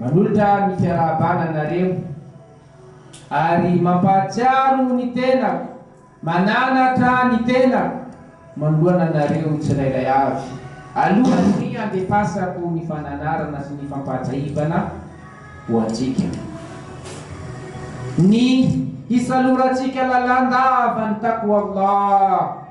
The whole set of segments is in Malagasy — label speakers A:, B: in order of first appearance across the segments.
A: Manolotra ny fiarahabana anareo ary mampahatsiaro ny tenako, mananatra ny tenako manoloana anareo tsirairay avy alohan'ny handefasako ny fananarana sy ny fampahatsiahivana ho antsika. Ny hisalorantsika lalandava ny Taqwallah.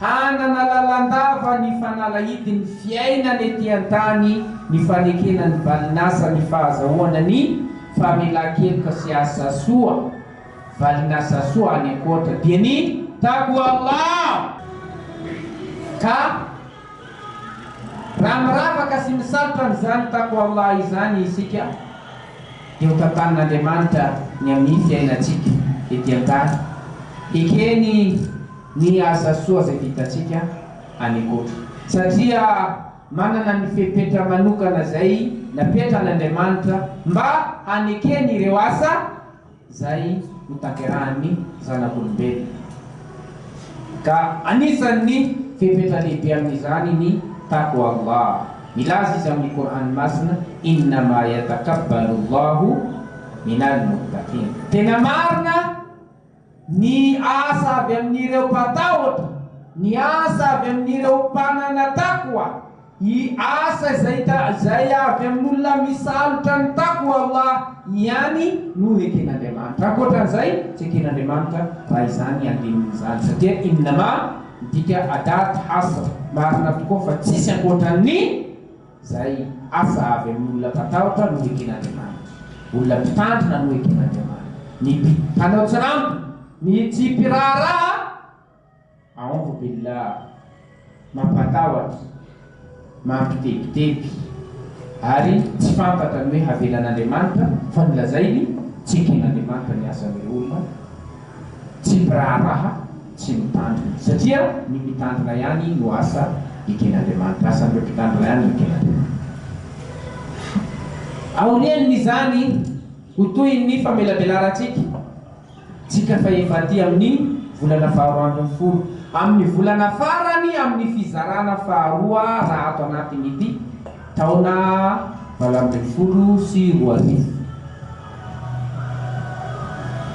A: Hanana lalandava ny fanalahidin'ny fiainana ety an-tany ny fanekena ny valinasa ny fahazahoana ny famelan-keloka sy asa soa, valinasa soa any ankoatra dia ny Taqwa Allah, ka raha miravaka sy misalotra an'izany Taqwa Allah izany isika dia ho tantanin'Andriamanitra ny amin'ny fiainantsika ety an-tany, hekeny ny asa soa izay vitantsika any koto satria manana ny fepetra manokana izay napetran' Andriamanitra mba hanekeny ireo asa izay ho tanterahan' ny zanak' olombelona ka anisan' ny fepetra lehibe amin' izany ny Taqwallah milaza izy amin' ny Kor'any masina Innama yatakabbalullahu minal muttaqin tena marina Ny asa avy amin'ireo mpatahotra, ny asa avy amin'ireo mpanana taqwa, y asa izay izay avy amin'olona misalotra ny taqwa Allah ihany no eken'Andriamanitra. Ankoatra an'izay, tsy eken'Andriamanitra raha izany andinin'izany. Satria innama, midika adat, hasr, marina tokoa fa tsisy ankoatran'ny. Izay asa avy amin'ny olona mpatahotra no eken'Andriamanitra. Olona mpitandrina no eken'Andriamanitra. Ny mpanao tsirambina, ny tsy mpiraharaha, aouzu billah, mampatahotra, mampitebiteby, ary tsy fantatra ny hoe havelan'Andriamanitra, fa ny lazainy, tsy eken'Andriamanitra ny asan'ireo olona. Tsy mpiraharaha, tsy mitandrina. Satria ny mitandrina ihany no asa eken'Andriamanitra. Asan'ireo mpitandrina ihany ny eken'Andriamanitra. Aorian'izany, ho toy ny famelabelarantsika tsika fahef'aty amin'ny volana faharoa ambin'ny folo, amin'ny volana farany amin'ny fizarana faharoa raha ato anatin'ity, Taona valo ambin'ny folo sy roa arivo.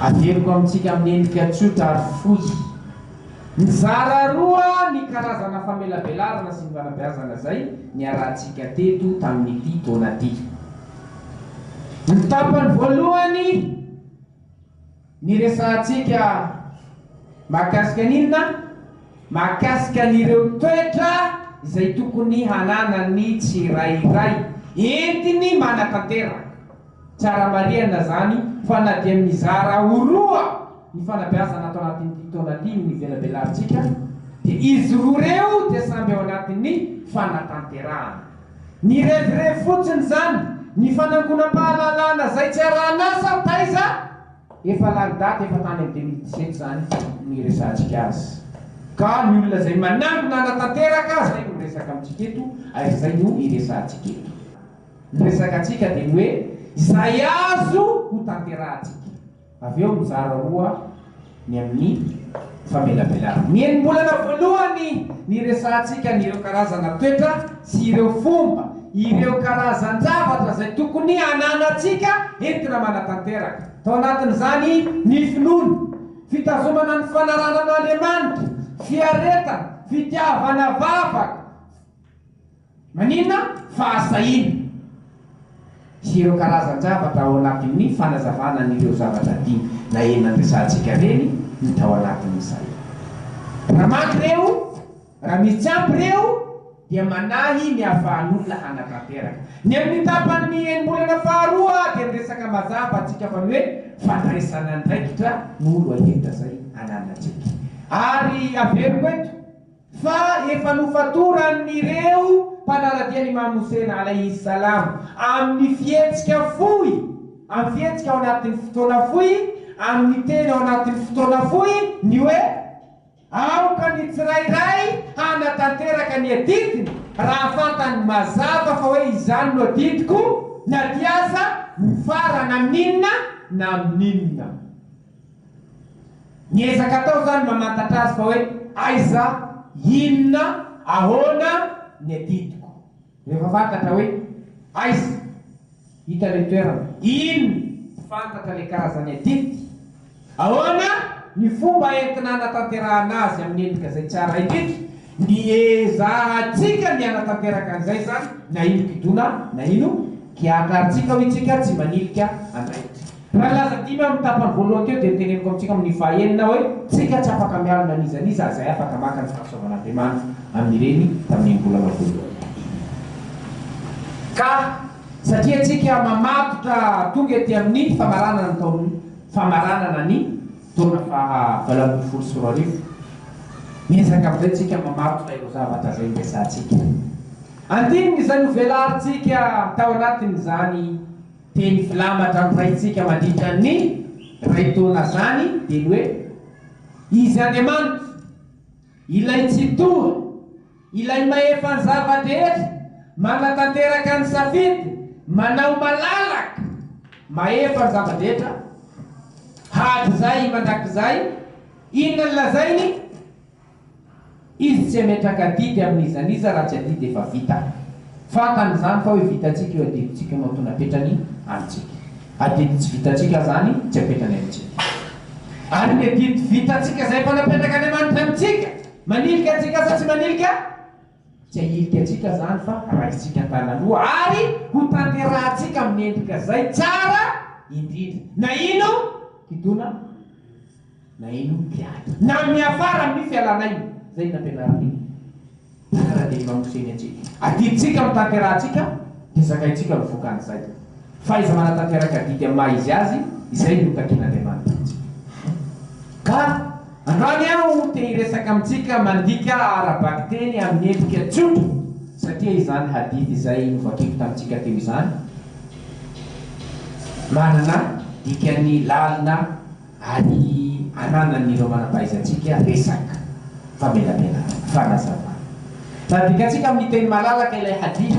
A: Averiko amintsika amin'ny endrika tsotra ary fohy. Nizara roa ny karazana famelabelarana sy ny fanabeazana izay niarahantsika teto tamin'ity taona ity. Ny tapany voalohany. Ny resahantsika mahakasika ny inona? Mahakasika an'ireo toetra izay tokony hananan'ny tsirairay entiny manatanteraka. Tsara marihana izany fa na dia mizara ho roa ny fanabeazana ato anatin'ity taona ity no ivelabelarintsika dia izy roa ireo dia samby ao anatin'ny fanatanterahana. Nirevirevy fotsiny zany ny fanangonam-pahalalana zay tsy arahan'asa taiza efa lany daty efa tany am deux mille dix sept zany ny resahantsika azy ka ny olona zay manangona hanatanteraka zay no miresaka amintsika eto ary zay no iresahantsika eto. Ny resaka antsika de ny hoe izay azo ho tanterahantsika. Avy eo mizara roa ny amin'ny famelabelana. Ny enim-bolana voalohany niresahantsika ny ireo karazana toetra sy ireo fomba, ireo karazan-javatra izay tokony hananantsika entina manatanteraka, tao anatin'izany ny finoana, fitazomana ny fanaranan' Andriamanitra, fiaretana, fitiavana vavaka, Maninona fa azo sahina? sy ireo karazan-javatra ao anatin'ny fanazavana an'ireo zavatra dimy na enina andresantsika ireny no tao anatin'izay. Raha maka ireo, raha misy ampy ireo dia manahy ny ahafahan'olona hanatanteraka. Ny amin'ny tapan'ny enim-bolana faharoa dia miresaka mazava antsika fa ny hoe fandraisana andraikitra no loha-hevitra izay ananantsika. Ary averiko eto. fa efa nofatoran'ireo mpanaradia an'Imam Houssein, alayhi salam, amin'ny fihetsika fohy, amin'ny fihetsika ao anatin'ny fotoana fohy, amin'ny teny ao anatin'ny fotoana fohy, ny hoe, Aoka ny tsirairay hanatanteraka ny adidiny raha fantany mazava fa hoe izany no adidiko, na dia aza mifarana amin'inona na amin'inona. Ny ezaka atao izany mamantatra azy fa hoe aiza, inona, ahoana ny adidiko. Rehefa fantatra hoe aiza, hita ilay toerana, inona, tsy fantatra ilay karazan'ny adidy, ahoana ny fomba entina hanatanterahana azy amin'ny endrika izay tsara indrindra, ny ezahantsika ny hanatanteraka an'izay izany na ino kidona na ino kiaka arintsika hoy isika tsy manilika andraikitsika. Raha nilaza dimy amin'ny tapany voalohany teo dia ny teneniko amintsika amin'ny fahenina hoe, Tsika tsy afaka mialona n'iza n'iza izay afaka maka ny fahasoavan'Andriamanitra amin'ireny tamin'iny volana voalohany iny. Ka satria tsika mamatotra tonga ety amin'ny famaranana ny taon famaranana ny taona faha valo ambin'ny folo sy roa arivo, miezaka amin'izay tsika mamatotra ireo zavatra izay niresahantsika. Andininy izay novelarintsika tao anatin'izany. Teny filambatra ny Raintsika mandritra ny iray taona zany dia ny hoe, Izy Andriamanitra, Ilay Tsitoha, Ilay Mahefa ny zava-drehetra, manatanteraka ny safidy, manao malalaka, mahefa ny zava-drehetra, hatrizay mandrakizay, inona no lazainy? Izy tsy hametraka adidy amin'iza n'iza raha tsy adidy efa vita. Fantany izany fa hoe vitantsika io adidintsika io no antony apetrany amintsika. Adidy tsy vitantsika izany tsy apetrany amintsika. Ary ny adidy vitantsika izay efa napetrakan'Andriamanitra amintsika, manilika antsika sa tsy manilika? Tsy hahilika antsika izany fa raisintsika an-tanan'loha ary hotanterahantsika amin'ny endrika izay tsara indrindra na ino kitona na ino teatra na miafara amin'ny fialan'aina. Izay no nampianarin'ny Mpanara-dia Imam Hussein antsika. Adidintsika amin'ny tanterahantsika dia zakaintsika no vokan'izay. Fahaiza-manatanteraka adidy amin'ny maha izy azy izay no takian'Andriamanitra amintsika. Ka androany aho te hiresaka amintsika mandika ara-bakiteny amin'ny endrika tsotra satria izany hadith izay novakiko tamintsika teo izany manana dikany lalina ary ananan'ireo manam-pahaizantsika resaka famelabelarana. Fanazavana. Raha dikantsika amin'ny teny malalaka ilay hadith.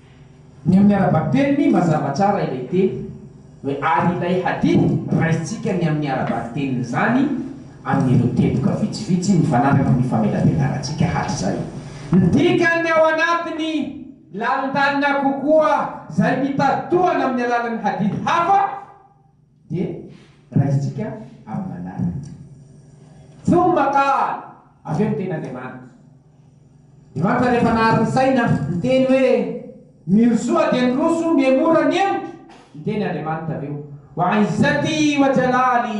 A: Ny amin'ny ara-bakiteny mazava tsara ilay teny hoe ary ilay hadith raisintsika ny amin'ny ara-bakitenin'izany amin'ireo teboka vitsivitsy mifanampy amin'ny famelabelarantsika hatrizay. Ny dikany ao anatiny, Lalin-dalina kokoa izay mitady tohana amin'ny alalan'ny hadith hafa, Dia raisintsika amin'ny manaraka. Fony makà avy eo ny tenin'Andriamanitra. Andriamanitra rehefa nahary ny saina, niteny hoe, Mirosoa dia niroso mihemora ny hemotra. Niteny Andriamanitra avy eo, Ho an'izay tia ho ajalaly.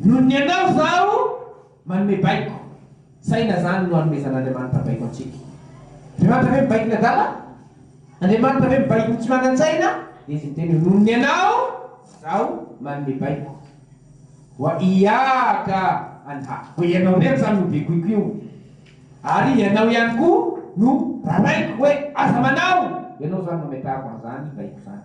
A: Noho ny anao izaho manome baiko. Saina izany no anomezan'Andriamanitra baiko antsika. Andriamanitra ve mibaiko ny adala? Andriamanitra ve mibaiko ny tsy manan-tsaina? Dia izy miteny hoe, Noho ny anao izaho manome baiko. Wa iyyaka anha. Hoe ianao irery izany no begoiko io. Ary ianao ihany koa no raraiko hoe aza manao. Ianao izany no ametrahako an'izany baiko izany.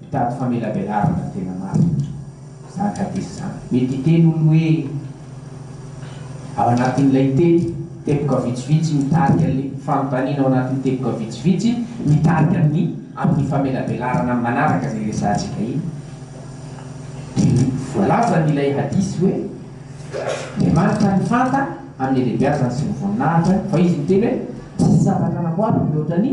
A: Mitady famelabelarana tena marina izany hadith izany. Mety hiteny olo hoe ao anatin'ilay teny, teboka vitsivitsy mitarika an'le fanontaniana ao anatin'ny teboka vitsivitsy mitarika amin'ny amin'ny famelabelarana amin'ny manaraka izay resahantsika iny. Dia voalazan' ilay hadith hoe, Andriamanitra ny fanta amin'ny halehibeazany sy ny voninahitra, fa Izy miteny hoe, Tsy misy zavatra namboariko mihoatra ny.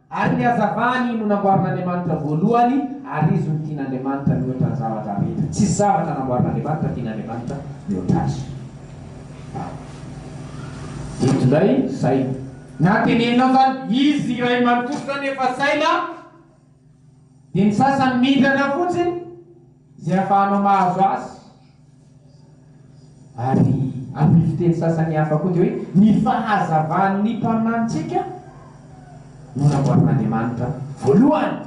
A: Ary ny hazavany no namboarin'Andriamanitra voalohany, ary Izy no tian'Andriamanitra mihoatra ny zavatra rehetra. Tsisy zavatra namboarin'Andriamanitra tian'Andriamanitra mihoatra Azy. Eto indray, saina. Na tenenina azany, Izy iray manontolo izany efa saina, dia ny sasany mindrana fotsiny. Izay afahanao mahazo azy. Ary amin'ny fiteny sasany hafa koa dia hoe ny fahazavan'ny mpaminanitsika no namboarin'Andriamanitra voalohany.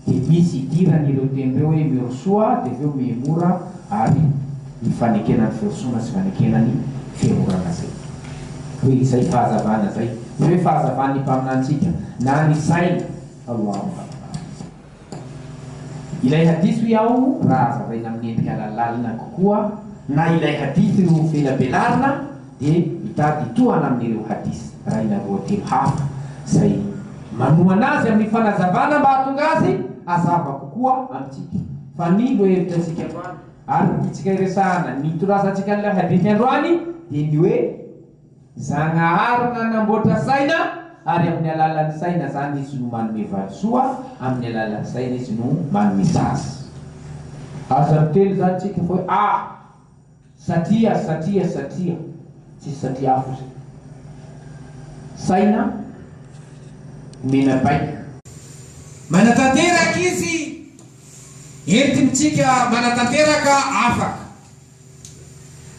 A: Dia misy idirany ireo teny ireo hoe mirosoa dia avy eo mihemora ary ny fanekena ny firosoana sy fanekena ny fihemorana izay hoe izay fahazavana izay. Izay hoe fahazavan'ny mpaminanitsika na ny sainy aloha amin'ny fahazavanao. Ilay hadith hoe ao raha hazavaina amin'ny endrika lalina kokoa na ilay hadith ireo ho velabelarina dia mitady hitohana amin'ireo hadith raha ila roa telo hafa izay manohana azy amin'ny fanazavana mba hahatonga azy hazava kokoa amintsika fa ny lohevitrasika androany ary ny tiantsika hiresahana ny nitorazantsika an'ilay hadith androany dia ny hoe Zagnahary nanamboatra saina ary amin'ny alalan'ny saina zany izy no manome valisoa, amin'ny alalan'ny saina izy no manome sazy. Aza miteny zany tsika fa hoe ah! satria, satria, satria. Tsisy satria hafa zay. Saina omena baiko. Manatanteraka izy entintsika manatanteraka afaka.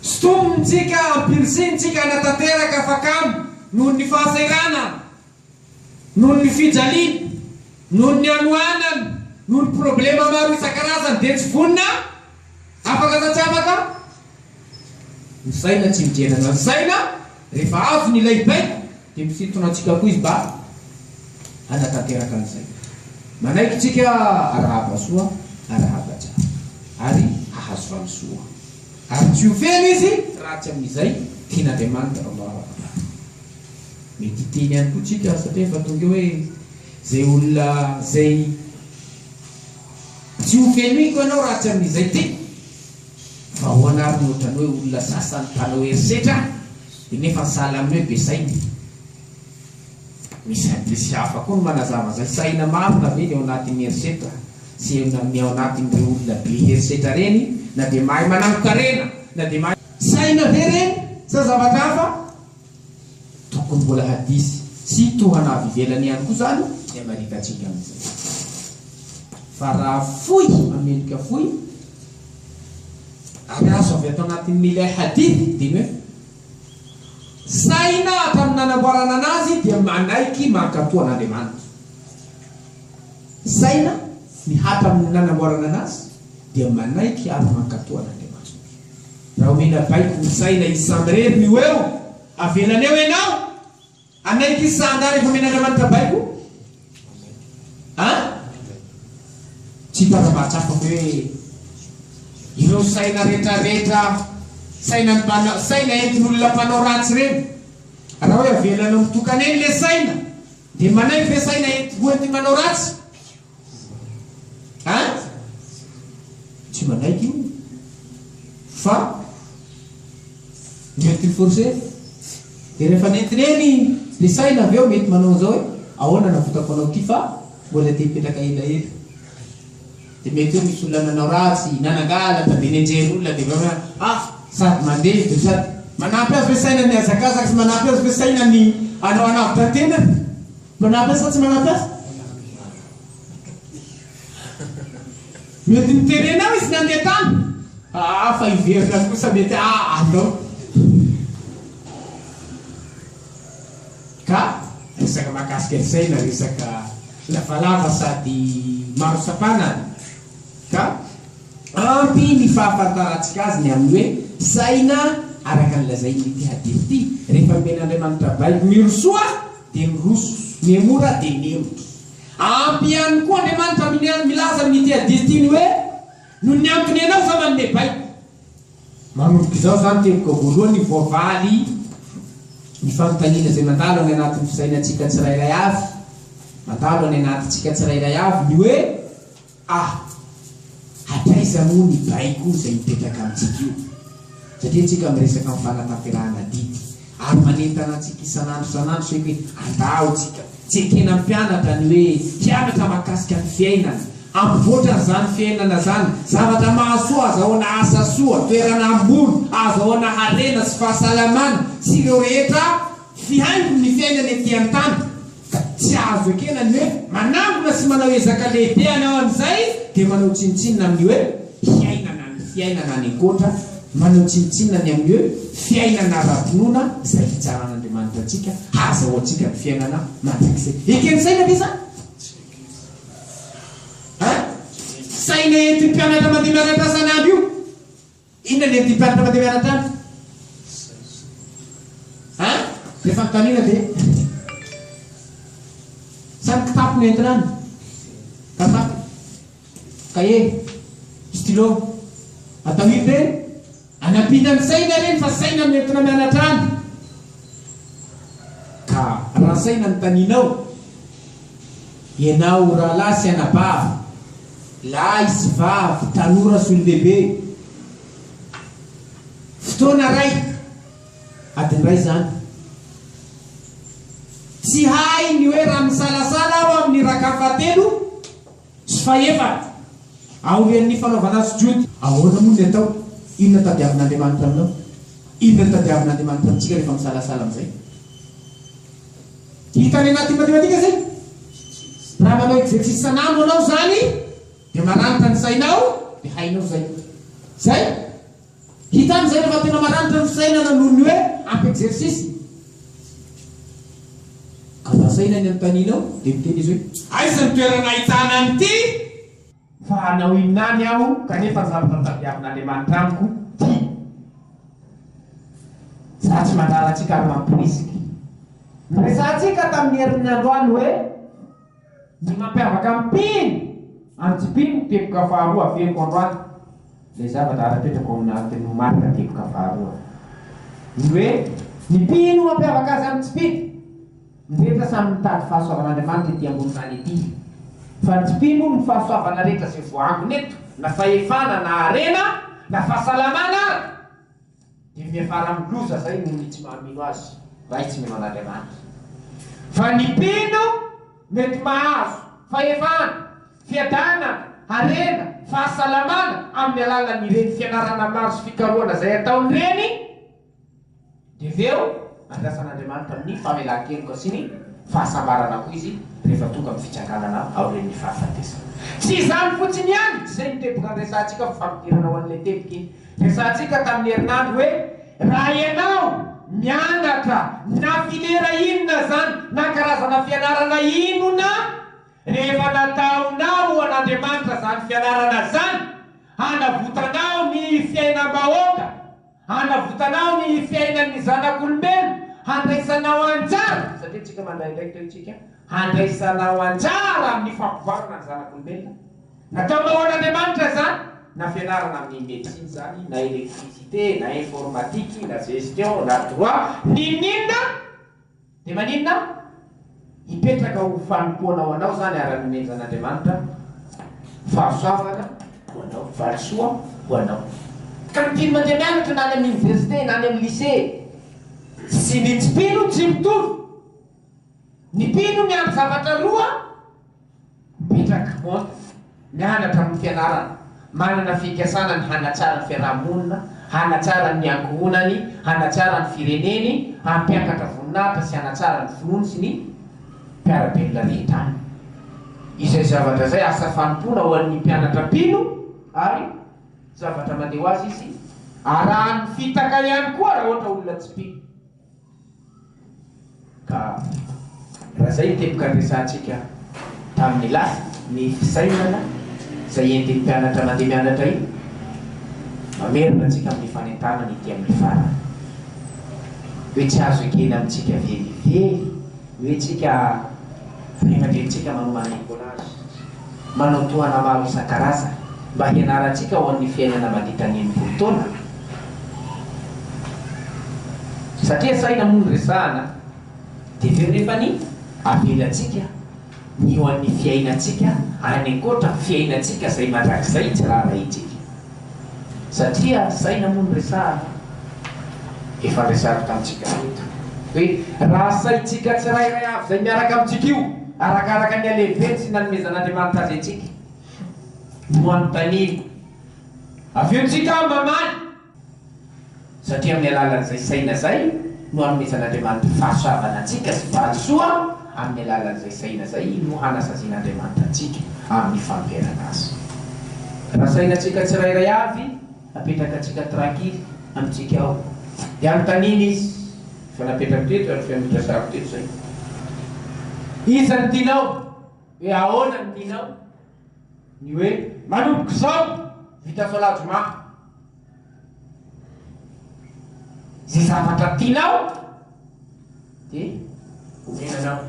A: Sotomintsika, ampirisihintsika hanatanteraka fa kamo noho ny fahasahiranana, noho ny fijaliana, noho ny hanoanana, noho ny problema maro isan-karazany dia tsy vonona afaka sa tsy afaka misaina, tsy midera na ny saina rehefa avy ny ilay baiko. Dia mpisintona antsika koa izy mba hanatanteraka an'izay. Manaiky antsika arahaba soa, arahaba tsara, ary hahazo valisoa. Ary tsy ho feno izy raha tsy amin'izay tian'Andriamanitra no afa-mangataka. Mety hiteny ihany koa tsika satria efa tonga eo hoe, Izay olona izay tsy ho fenoiko ianao raha tsy amin'izay tiako. Ahoana ary no ohatran'ny hoe olona sasany mpanao herisetra dia nefa ny sahala amin'ny hoe be saina? Misy hadisy hafa koa no manazava izay. Saina marina ve ny ao anatin'ny herisetra sy ny ao anatin'ireo olona be herisetra ireny na dia mahay manangon-karena na dia mahay. Saina ve ireny sa zavatra hafa? Tokony mbola hadisy sy tohana avy ivelany ihany koa izany ny hamaritantsika an'izay. Fa raha fohy hamenoka fohy ary azo avy ato anatin'ilay hadith dia ny hoe, Saina hatramin'ny nanamboarana an'azy dia manaiky mankatò an'Andriamanitra. Saina ny hatramin'ny nanamboarana an'azy. dia manaiky ary mankato an'Andriamanitra. Raha omena baiko ny saina i samirery ny ho eo, avelany eo ianao? Hanaiky izy sa angaha rehefa omen'Andriamanitra baiko? An? Tsy hitana mahatsapa hoe ireo saina retraretra, saina ny, saina entin'olona mpanao ratsy ireny. Raha hoe avelanao mitokana eny ilay saina, dia manaiky ve saina ho entin'ny manao ratsy? Ein? Tsy manaiky io fa mety ho forcer. Dia rehefa nentina eny dia saina avy eo mety manao an'izao hoe ahoana navotako anao ity fa mbola te hipetraka elaela. Dia mety hoe misy olona nanao ratsy, nanangalatra, dia nenjehin'ny olona dia avy eo hoe ah sady mandeha dia sady. Manampy azy ve saina ny hazakazaka sy manampy azy ve saina ny hanao hanavotra ny tenany? Manampy sa tsy manampy azy? Mety niterenao izy nandeha tany. Aa fa hiverina kosa mety hahalao. Ka resaka mahakasika saina resaka lavalava sady maro sapana an! Ka ampy ny fahafantarantsika azy ny amin'ny hoe saina araka ny lazain'ity hadith ity, Rehefa nomen'Andriamanitra baiko mirosoa, dia miroso. Mihemora dia mihemotra. Ampy ihany koa Andriamanitra amin'ny milaza amin'ity hadith ity ny hoe, Noho ny antony ianao izao manome baiko. Manomboka izao izany teboka voalohany voavaly ny fanontaniana izay mandalo any anatin'ny fisainantsika tsirairay avy, mandalo any anatintsika tsirairay avy ny hoe, A, Hatraiza moa ny baiko izay mipetraka amintsika io? Satria isika miresaka amin'ny fanatanterahana adidy ary manentana antsika isan'andro isan'andro isika hoe andao isika tsy ekena mpianatra ny hoe hianatra mahakasika ny fiainana, hampivoatra an'izany fiainana izany, zavatra mahasoa, azahoana asa soa, toerana ambony, ahazahoana harena sy fahasalamana sy ireo rehetra Fihaingon' ny fiainana ety an-tany, ka tsy azo ekena ny hoe manangona sy manao ezaka lehibe any aho amin' izay dia manao tsinontsinona amin' ny hoe fiainana ny fiainana any an-koatra, manao tsinontsinona ny amin' ny hoe fiainana ara-pinoana izay hitsaran' Andriamanitra antsika hahazahoantsika ny fiainana mandrakizay. Eken' saina ve izany? Tsy ekena. An? Saina entin' ny mpianatra mandeha mianatra isan' andro io. Inona le ty mpianatra mandeha mianatra any? Hein? Zay fanontaniana de Sa ny kitapo no entina any? Kazaka? Cahier? Stylo? Atao ino reny? Anampiana ny saina reny fa saina no entina mianatra any ka raha saina no tanianao, Ianao rahalahy sy anabavy, lahy sy vavy, tanora sy olon-dehibe, fotoana iray, adiny iray izany. Tsy hay ny hoe raha misalasala aho amin'ny raka fahatelo sy fahefatra aorian'ny fanaovana azy Jody. Ahoana moa ny atao? Inona no tadiavin'Andriamanitra aminao? Inona no tadiavin'Andriamanitra amintsika rehefa misalasala amin'izay? Hitan'ny anaty matematika izay? Raha manao exercice isan'andro anao izany dia maranitra ny sainao dia hainao izay. Izay? Hitany izay rehefa tena maranitra ny fisainana noho ny hoe ampy exercice. Ka vasaina ny anontanianao dia miteny izy hoe aiza ny toerana ahitana an'ity? Fa hanao inona any aho kanefa ny zavatra tadiavin'Andriamanitra amiko tia za tsy mandrara antsika ary mamporisika. Noresahantsika tamin'ny herin'ny androany hoe ny mampiavaka ny mpino amin'ny tsy mpino ny teboka faharoa averiko androany ilay zavatra arapetrako ao anatin'ny marika teboka faharoa ny hoe ny mpino mampiavaka azy amin'ny tsy mpino. Ny rehetra samy mitady fahasoavan'Andriamanitra ety ambony tany ety, fa ny tsy mpino hono ny fahasoavana rehetra izay voaangona eto na fahefana na harena na fahasalamana ary dia miafara amin'ny loza izay noho ny tsy mahamino azy raha izy tsy mino an'Andriamanitra fa ny mpino mety mahazo fahefana, fiadanana, harena, fahasalamana amin'ny alalan'ireny fianarana maro sy fikarohana izay ataon'ireny. Dia avy eo, andrasan'Andriamanitra amin'ny famelan-keloka sy ny fahasambarana koa izy rehefa tonga amin'ny fitsanganana aorian'ny fahafatesana. Tsy izany fotsiny ihany izay no teboka niresahantsika fa fampidirana ho an'ilay teboky resahantsika tamin'ny herinandro hoe, Raha ianao mianatra na filera inona izany na karazana fianarana inona, rehefa nataonao ho an'Andriamanitra izany fianarana izany, hanavotanao ny fiainam-bahoaka. Hanavotanao ny fiainan'ny zanak'olombelona, handraisanao anjara, satria tsika mandray andraikitra io tsika, handraisanao anjara amin'ny fampivoarana ny zanak'olombelona. Nataonao an'Andriamanitra izany, na fianarana amin'ny médecine izany, na électricité, na informatique, na gestion, na droit, n'inon'inona. Dia maninona hipetraka ho fanompoana ho anao izany ary hanomenjan'Andriamanitra fahasoavana ho anao, valisoa ho anao. Ka ny mpino mandeha mianatra na any amin'ny oniversite na any amin'ny lisea sy ny tsy mpino tsy mitovy. Ny mpino miandry zavatra roa. Petra Kmotz, mianatra amin'ny fianarana, manana fikasana ny hanatsara ny fiarahamonina, hanatsara ny ankohonany, hanatsara ny fireneny, hampiakatra voninahitra sy hanatsara ny finoany sy ny mpiara-belona rehetra aminy. Izay zavatra izay asa fanompoana ho an'ny mpianatra mpino ary zavatra mandeha ho azy izy, arahan'ny fitaka ihany koa raha ohatra olona tsy mpino. Ka raha zay teboka andresantsika tamin'ny lasa, ny fisainana izay entin'ny mpianatra mandeha mianatra iny, mamerina antsika amin'ny fanentanana ety amin'ny farany. Hoe tsy azo ekena amintsika velively. Ve tsika fahita drentsika manao manaiky collage, manao tohana maro isan-karazany mba hianarantsika ho an'ny fiainana mandritra ny enimpolo taona? Satria saina moa ny resahana dia avy eo nefa ny avelantsika ny ho an'ny fiainantsika any ankoatra ny fiainantsika izay mandrakizay tsy raharahintsika. Satria ady saina moa no resahana. Efa resahiko tamintsika teto hoe raha saintsika tsirairay avy izay miaraka amintsika io, arakaraka ny halehibeny sy ny nanomezan'Andriamanitra azy antsika no anontaniana. Avy eo tsika mamaly. Satria amin'ny alalan'izay saina izay no hanomezan'Andriamanitra fahasoavana antsika sy valisoa, amin'ny alalan'izay saina izay no hanasazian'Andriamanitra antsika amin'ny fanoherana Azy. Raha sainantsika tsirairay avy apetrakantsika trankily amintsika ao, dia anontaniana Izy, efa napetrako teto ary efa noresahako teto izay, Iza no tianao? hoe ahoana no tianao? Ny hoe manomboka izao vita soalajoma ze zavatra tianao de omenanao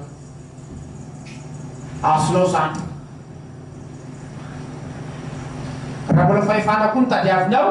A: azonao zany raha mbola fahefana koa no tadiavinao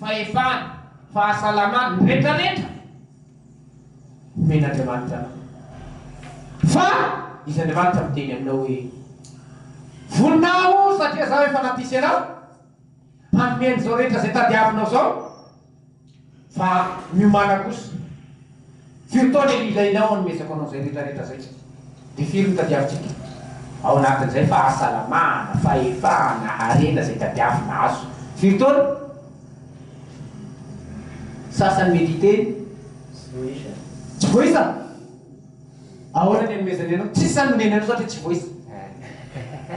A: fahefana, fahasalamana, ny rehetra rehetra homen'Andriamanitra anao. Fa izy Andriamanitra miteny aminao hoe, Vonona aho satria zaho efa nampisy anao hanome an'izao rehetra izay tadiavinao izao, fa miomàna kosa. Firy taona io ilainao hanomezako anao izay rehetrarehetra izay? Dia firy no tadiavintsika? Ao anatin'izay, fahasalamana, fahefana, harena izay tadiavina azo. Firy taona? Sasany mety hiteny, Tsy voaisa! Ahoana ny hanomezany anao? Tsy samy omeny anao satria tsy voaisa.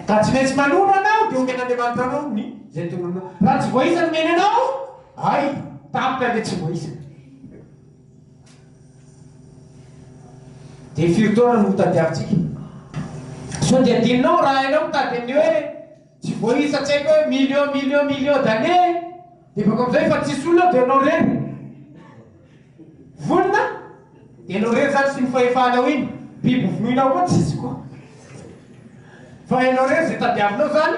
A: Ka tsy maintsy manoro anao dia omen'Andriamanitra anao ny izay tonononao. Raha tsy voaisa no omeny anao, hay, tampoka ilay tsy voaisa. Dia firy taona no hotadiavintsika? Sao dia adinonao raha hainao mitady an'ny hoe tsy voaisa tsy haiko hoe millions millions millions d'années dia bako amin'izay efa tsisy olona ao dia ianao irery vonona dia ianao irery izany sy ny fahefanao iny biby hovonoinao koa tsisy koa fa ianao irery izay tadiavinao izany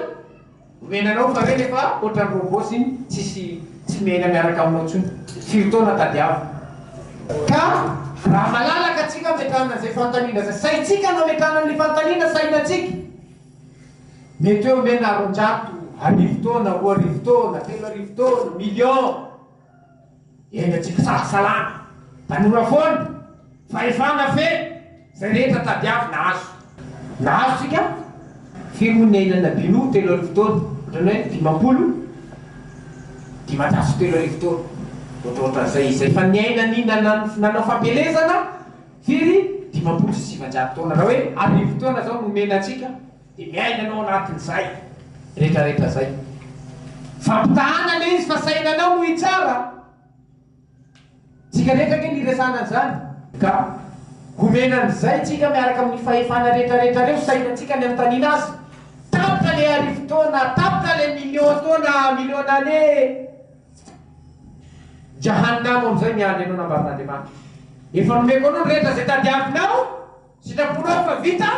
A: Omena anao fa re nefa otrany robots iny tsisy tsy miaina miaraka aminao tsony firy taona tadiavo ka raha malalaka tsika ametrahana an'izay fantanina zay saintsika no ametrahana ny fantanina saina tsika mety hoe omena roanjato arivo taona roa arivo taona telo arivo taona million Enga tsy mpisahasalama. Tanora foana. Fahefana feno. Izay rehetra tadiavina azo. Nahazo tsika. Firy moa ny ahilanà Binoa telo arivo taona? Ohatran'ny hoe dimampolo dimanjato telo arivo taona. Ohatraohatran'izay. Izay efa niaina ny nanao fampielezana firy dimampolo sy sivanjato taona. Raha hoe arivo taona izao no omena antsika. Dia miaina ianao anatin'izay rehetrarehetra izay. Fampitahana ilay izy fa sainanao no hitsara. Tsika rehetra ange niresana an'izany. Ka homena an'izay tsika miaraka amin'ny fahefana rehetrarehetra ireo sainantsika ny anontaniana Azy. Tapitra ilay arivo taona, tapitra ilay million taona, million années. Jahanamo amin'izay miandry anao nambaran'Andriamanitra. Efa nomeko anao ny rehetra izay tadiavinao, sitraponao fa vita.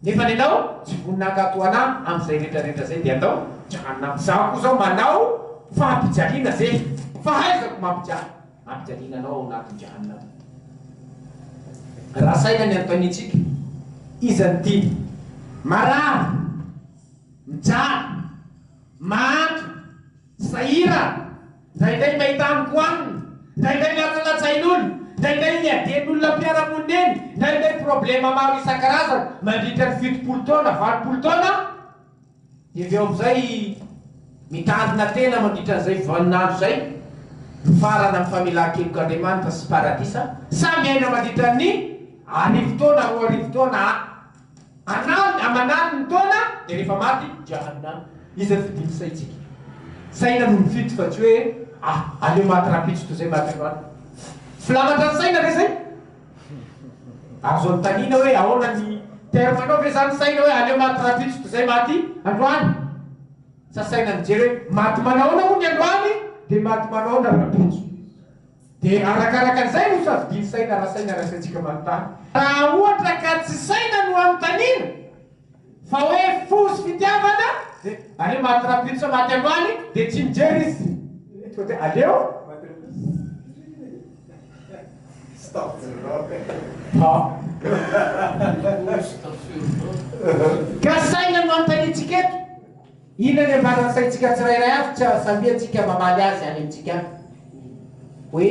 A: Nefa nenao tsy vonona hankatoanà amzay retraretra zay de andao Jahannam zaho koa zao manao fampijaliana ze fahaizako mampijaly ampijaliana anao ao anatin Jahannam. Raha saina ny anontaniantsika iza no tiany? Marary, mijaly, mahantra. Sahira, ndraindray mahita amiko anina, ndraindray latsalatsain'olo, ndraindray iadian'olona mpiara-monina eny, ndraindray problema maro isan-karazany mandritra ny fitopolo taona, valopolo taona aho, dia avy eo amin'izay mitandrina tena mandritra an'izay vaninandro izay mifarana amin'ny famelan-kelok'Andriamanitra sy paradisa, samy miaina mandritra ny arivo taona, roa arivo taona aho. Anao ny aman'aliny ny taona dia rehefa maty dia hanina iza ny fidin'ny saintsika? Saina no mifidy fa tsy hoe ah aleo maty rahampitso toy izay maty androany. Filamatra ny saina ve izay? Azo anontaniana hoe ahoana ny terme nao ve izany saina hoe aleo maty rahampitso toy izay maty androany? Sa saina mijery hoe maty manahoana moa ny androany dia maty manahoana rahampitso? Dia arakaraka izay no safidian'ny saina raha saina raisintsika manontany. Raha ohatra ka tsy saina no anontaniana fa hoe fo sy fitiavana dia aleo maty rapide sa maty androany dia tsy mijery izy fa dia aleo Ka saina no anontaniantsika eto. Inona ny ambara ny saintsika tsirairay avy tsy hahasahiantsika mamaly azy any amintsika any hoe,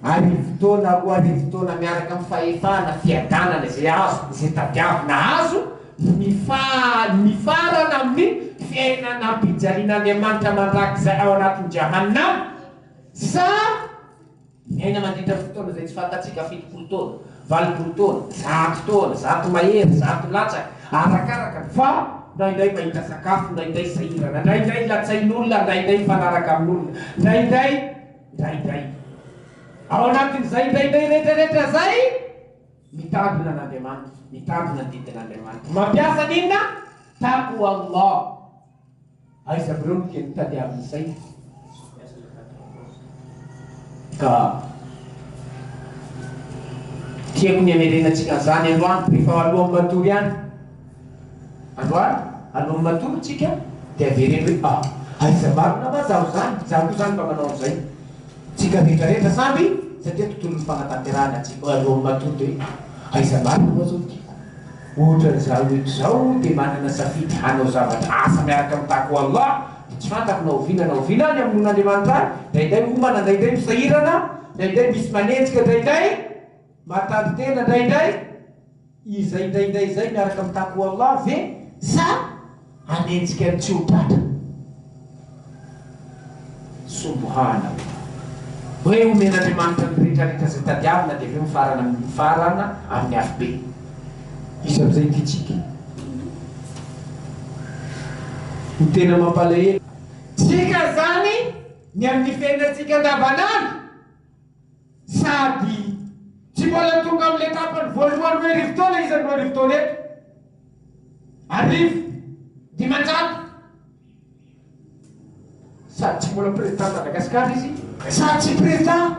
A: Arivo taona, roa arivo taona miaraka amin'ny fahefana, fiadanana izay azo, izay tadiavina azo, ny mifarana amin'ny fiainana am-pijalian'Andriamanitra mandrakizay ao anatin'ny Jahannam, sa. Niaina mandritra fotoana izay tsy fantatsika fitopolo taona, valopolo taona, zato taona, zato mahery, zato latsaka, arakaraka ny fa ndraindray mahita sakafo, ndraindray sahirana, ndraindray latsain'olona, ndraindray mifanaraka amin'olona, ndraindray, ndraindray. Ao anatin'izay ndraindray retraretra izay, mitandrina an'Andriamanitra, mitandrina ny didin'Andriamanitra. Mampiasa an'inona? Taqwallah. Aiza avreo no teny tadiaviny izay? Ka tiako ny hamerenantsika an'izany androany, rehefa alohan'ny matory any. Androany, alohan'ny matory tsika, dia avereno hoe, ah, aiza marina ma zaho izany? Izaho koa izany mba manao an'izay. Tsika rehetra rehetra samby, satria tontolon'ny fanatanterahana tsika, alohan'ny matory dia hoe, aiza marina ma zao ny tiako? Ohatra izaho eto izao dia manana safidy hanao zavatra asa miaraka amin'ny tako Allah dia tsy fantako na oviana na oviana aho ny hamonoan'Andriamanitra ahy, indraindray homana, indraindray misahirana, indraindray misy manenjika, indraindray mahatady tena, indraindray izay indraindray izay miaraka amin'ny tako Allah ve sa. hanenjika ny tsy ho tratra. Subuhaan Allah. Hoe homen'Andriamanitra ny retraretra izay tadiavina dia avy eo mifarana amin'ny mifarana amin'ny afobe. Iza amin'izay no hitsiky? Ny tena mampalahelo. Tsika izany ny amin'ny fiainantsika andavanandro. Sady tsy mbola tonga amin'ny etapany voalohany hoe arivo taona izy an'ireo arivo taona eto. Arivo, dimanjato. Sady tsy mbola président Madagascar izy, sady tsy président,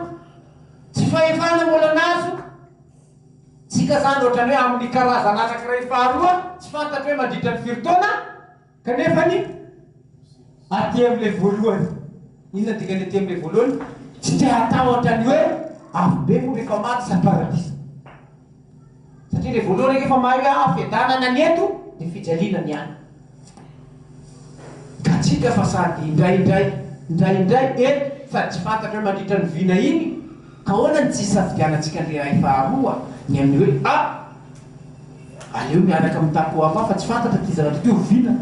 A: tsy fahefana mbola nazo, tsika zany ohatrany hoe amin'ny karazana anankiray faharoa tsy fantatro hoe mandritra ny firy taona, Kanefa ny aty amin'ilay voalohany, inona dikany aty amin'ilay voalohany? Tsy te hatahotra ny hoe afobe moa rehefa maty sa paradisa? Satria ilay voalohany ange efa mahay hoe ah fiadanana ny eto dia fijaliana ny any. Gatsika fa sady indraindray indraindray eto sady tsy fantatra hoe mandritra ny vina iny ka ahoana ny tsy hisafidianantsika an'ilay iray faharoa, ny amin'ny hoe ah! Aleo miaraka mitaky ho hafa fa tsy fantatra ty zavatra ty oviana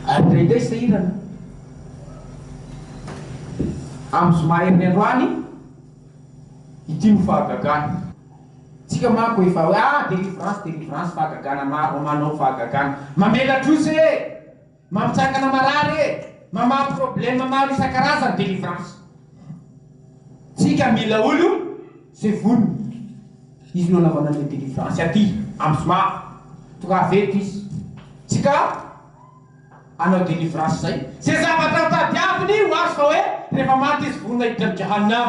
A: ary indraindray sahirana amin'ny zoma herin'ny androany ity no fahagagana. Tsika manko efa hoe ah delivrance delivrance fahagagana maro manao fahagagana mamela trosa e! Mampijakana marary e! Mamaha problème maro isan-karazany délivrance tsika mila olo ze vonona izy no anaovana anle délivrance aty am zoma tongava eto izy tsika anao délivrance zay ze zavatra tadiaviny ho azy fa hoe refa maty izy vonona hiditra am jahanam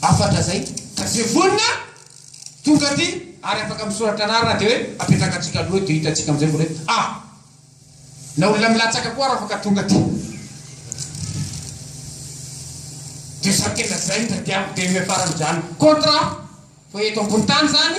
A: Hafatra zay ka ze vonona tonga aty ary afaka misoratra anarana de hoe apetraka tsika aloha eto de hita tsika amizay vao a na olona milatsaka koa ary afaka tonga aty de samy tena zay ndra de amy deuxième farany zany contrat fa eto ambony tany zany